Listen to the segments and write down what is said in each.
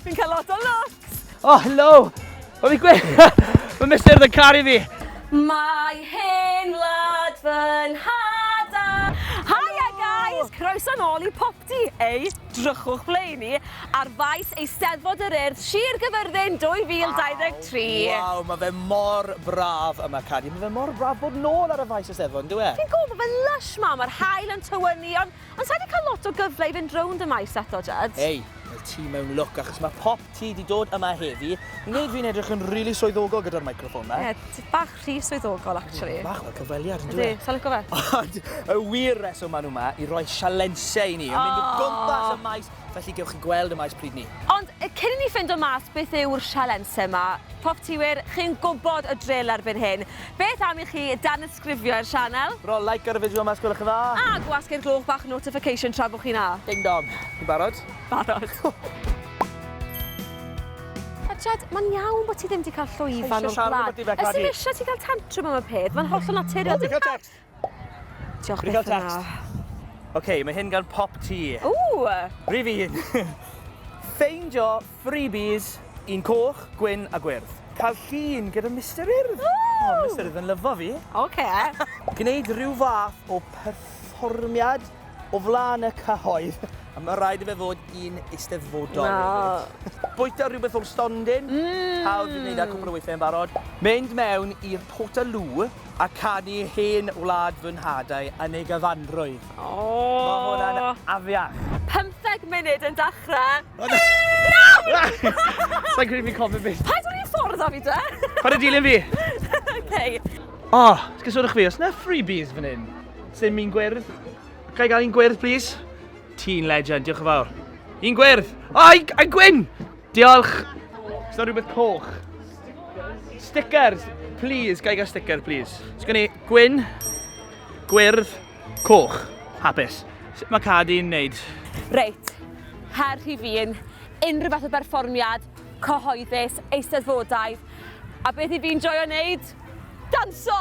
Fi'n cael lot o lwcs! Oh, hello! Mae fi gweud... Mae Mister yn caru fi! Mae hen wlad fy nhad-a! Hiya guys! Croeso nôl i Popty, ei drychwch ble i ni, ar faes Eisteddfod yr Urdd, Sir Gyfyrddin 2023! Waw, mae fe mor braf yma Cari, mae fe mor braf bod nôl ar y faes Eisteddfod, yn dyw e? Fi'n gwybod, mae fe'n lush ma, mae'r haul yn tywynnu, ond Ond sai di cael lot o gyfle i fynd rownd y maes eto, Jed. Hei, mae ti mewn lwc achos mae pop ti di dod yma heddi. Yn gwneud fi'n edrych yn rili swyddogol gyda'r microffon ma. Ie, ti bach rhy swyddogol, actually. Ie, bach fel cyfweliad, yn dwi? Ydy, sa'n lico fe? Ond y wir reswm maen nhw ma i roi sialensiau i ni, yn mynd o gwmpas y maes Felly gewch chi gweld y maes pryd ni. Ond cyn i ni ffindo mas beth yw'r sialense ma, Profftiwyr, chi'n gwybod y drill erbyn hyn. Beth am i chi danysgrifio i'r sianel? Rho like ar y fideo yma os gwelwch yn dda. A gwasgu'r gloch bach notification tra bo chi'n a. Ding dong. Chi'n barod? Barod. Jed, mae'n iawn bod ti ddim wedi cael llwyfan o'r blaen. Ysdim eisiau ti gael tantrum am y peth, mae'n hollol naturiol. Dim cael tecst! Diolch byth yn dda. Ok, mae hyn gan Pop T. Ww! Rhif un. Ffeindio freebies un coch, gwyn a gwyrdd. Cael llun gyda Mister Urdd. O, Mister Urdd yn lyfo fi. Ok. Gwneud rhyw fath o perfformiad. O flaen y cyhoedd. Mae rhaid i fe fod un eisteddfodol. Na. Bwyta rhywbeth o'r stondin. Mm. Pawb wedi gwneud e cwpl o weithiau yn barod. Mynd mewn i'r Portaloo a canu Hen Wlad Fy Nhadau yn ei gyfanrwydd. O! Mae hwnna'n afiach. Pymtheg munud yn dechrau. Sa i'n credu fi'n cofio beth. Paid rhoi ffordd a fi de! Paid â dilyn fi! Ok. O! Os gysodwch fi, oes 'na freebies fan hyn? Sdim un gwyrdd. Ga i gael un gwyrdd, please? Ti'n legend, diolch yn fawr. Un gwyrdd! O, i, i gwyn! Diolch! Is that rhywbeth coch? Stickers. Stickers! Please, ga i gael sticker, please? Is gen i gwyn, gwyrdd, coch. Hapus. Sut mae cad i'n neud? Reit, her rhi fi yn unrhyw fath o berfformiad, cyhoeddus, eisteddfodau, a beth i fi'n joio wneud? Danso!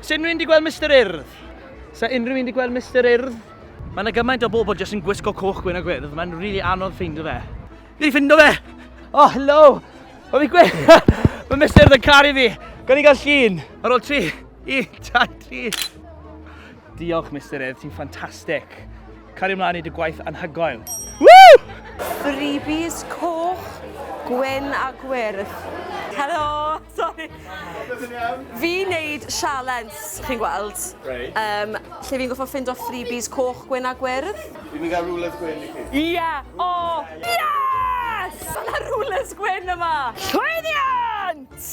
Sa unrhyw un di gweld Mister Urdd? Sa unrhyw un di gweld Mister Urdd? Mae yna gymaint o bobl jyst yn gwisgo coch gwyn a gwyrdd, mae'n rili really anodd ffeindio fe. Fi wedi ffindo fe! Oh, hello! O fi gwe... Mae Mister Urdd yn caru fi! Gan i gael llun! Ar ôl tri, un, dau, tri. Diolch, Misterydd, ti'n ffantastig. Cario mlaen i dy gwaith anhygoel. Woo! Freebies coch, gwyn a gwyrdd. Helo, sorry. Fi wneud sialens, chi'n gweld, right. um, lle fi'n goffo ffind o freebies coch, gwyn a gwyrdd. Fi'n mynd gael rulers gwyn i chi. Ie! Yeah. Oh! Yes! Yna rulers gwyn yma! Llwyddiant!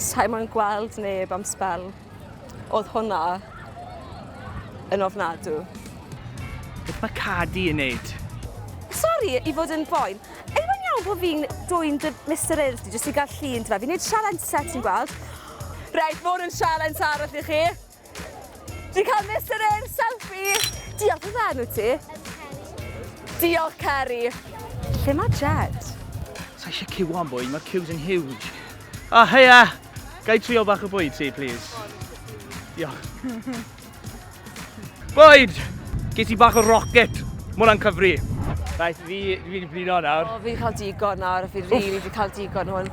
Sa'i moyn gweld neb am sbel. Oedd hwnna yn ofnadw. Beth mae Cardi yn neud? Sori i fod yn boen. Yw e'n iawn bod fi'n dwyn dy Mister Earth di jyst i gael llun ti fe? Fi'n neud sialens set ti'n gweld. Reit, ma' hwn yn sialens arall i chi. Ti'n cael Mister Air selfie! Diolch, beth yw enw ti? Ceri. Diolch, Ceri. Lle mae Jed? Sa eisiau cyw am bwyd, mae'r cyws yn huge. O, oh, heia! Gai trio bach o bwyd ti, please? Diolch. bwyd! Ges i bach o rocket. Mae hwnna'n cyfri. Rhaid, fi, fi'n blino nawr. O, fi'n cael digon nawr, fi'n rili, really, fi'n cael digon hwn.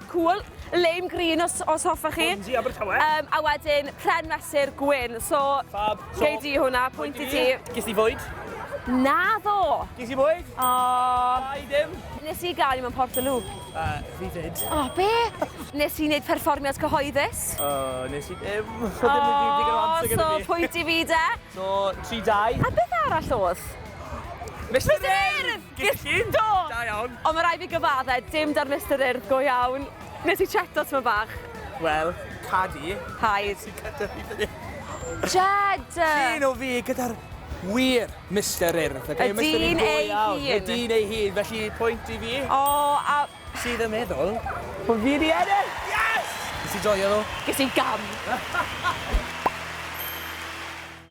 Cŵl, Lame Green os os hoffech chi. Hwn di Abertawe. Yym a wedyn Pren Mesur Gwyn. So Fab. So, gei di hwnna, pwynt i ti. Ges di fwyd? Naddo! Ges i fwyd? O! Da i ddim. Nes i gael i mewn Portaloo. Uh, fi did. O, be? Nes i wneud perfformiad cyhoeddus. O, nes i ddim. O, so pwynt i fi de. So, 3-2. A beth arall oedd? Mister Urdd! Ges i un! Do! Da iawn. Ond ma' raid fi gyfadde, dim darlithder urdd go iawn. Nes i cheto tymed bach. Wel, Cadi. Hi. Nes i cyda fi fan 'yn. Jed! Llun o fi gyda'r wir Mister Urdd. Y dyn ei hun. Y dyn ei hun, felly pwynt i fi. O, a... Sydd yn meddwl bo' fi 'di ennill! Yes! Nes i joio ddo. Ges i gam.